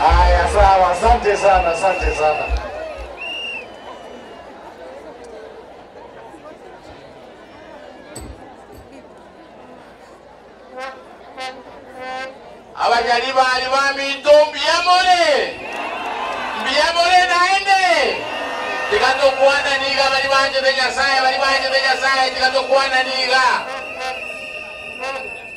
Haya sawa, asante sana, asante sana. Abanyari bari baminto mbiyamore, mbiyamore naende. Tiga tokwana niga bari banchete Nyasaye, bari banchete Nyasaye, tiga tokwana niga.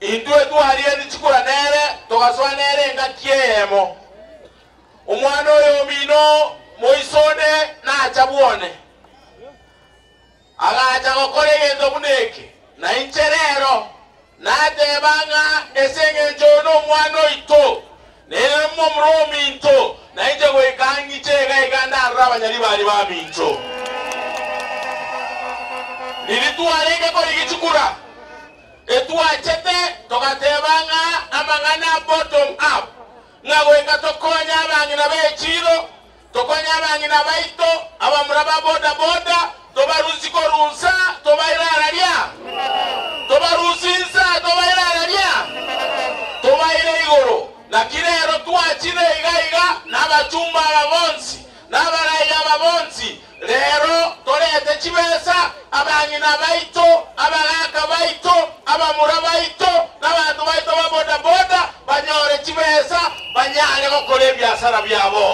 Intwe twaria richikura nere, togasoa nere engaki eyemo. Omwana oye omino moiso onde nacha bwone, agacha gokora egento buna eke, na inche rero nateba ng'a ase engencho oyo nomwana oito, nere momura ominto, nainche goika ang'iche iga iga ndarore abanyari baria baminto. Riria twarenge korigichikura, Etwachete togateba ng'a amang'ana a bottom up, ng'a goika tokonye abang'ina b'echiiro, tokonye abang'ina baito, abamura ba boda boda, tobarusie korunsa, tobaire araria, tobarusie insa, tobaire araria, tobaire igoro. Naki rero twachire iga iga nabachumba aba bonsi, Nabaraire aba bonsi, reero toreete chibesa, abang'ina baito, abagaaka baito, abamura baito, na abanto baito ba bodaboda banyore chibesa banyare gokora ebiasara biabo.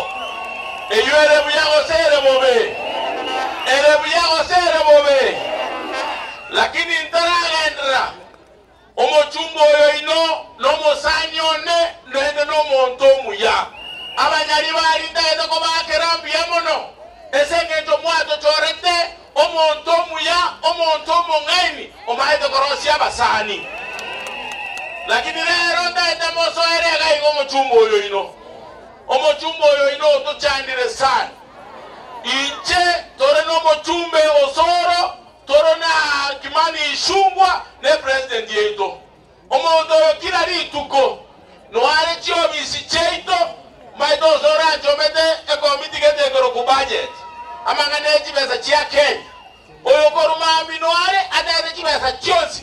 Eyio ere buya gose ere bobe? Ere buya gose ere bobe? Lakini ntaragenderera Omochumba oyo inwe nomosani one naende nomonto omuya. Abanyari barintagete kobakera mbuya mono, es'engencho mwatochorete omonto omuya, omonto omong'aini, omaete korosia abasani. Lakini rero ntagete mosoere iga iga omochumba oyo inwe. Omochumba oyo inwe otochandire sana. Inche tore nomochumbe os'oro. Toro na haki mani isungwa ne president yaito. Omonto oyo kira rituko noare chiofisi chiaito maete onse orachomete ekomiti gete ekero ku budget amang'ana ye chibesa chia Kenya. Oyo korwa maambia noare atagete chibesa chionsi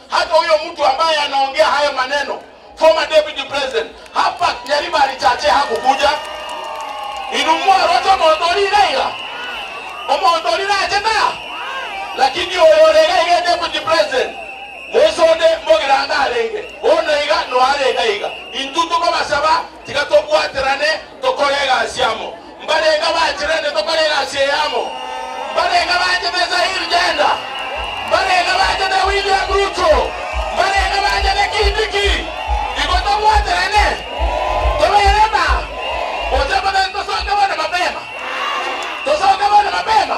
Hata huyo mtu ambaye anaongea hayo maneno former deputy president hapa Nyarima alichache hakukuja inu mwarwa cha omonto ori iga iga omonto ori nache ta lakini oyo ore iga iga deputy president Mwesi onde Mbogiranga arenge bono iga noare iga iga intu tokobasaba tiga tobwaterane tokore egasi amo Mbarenge bachirende tokore egasi eyamo, mbarenge bachete Zaire Gender, mbarenge bachete William Ruto, mbarenge bachete Kindiki. Igo tobwaterane, tobeere na gose motari tosoke bono mapema, tosoke bono mapema.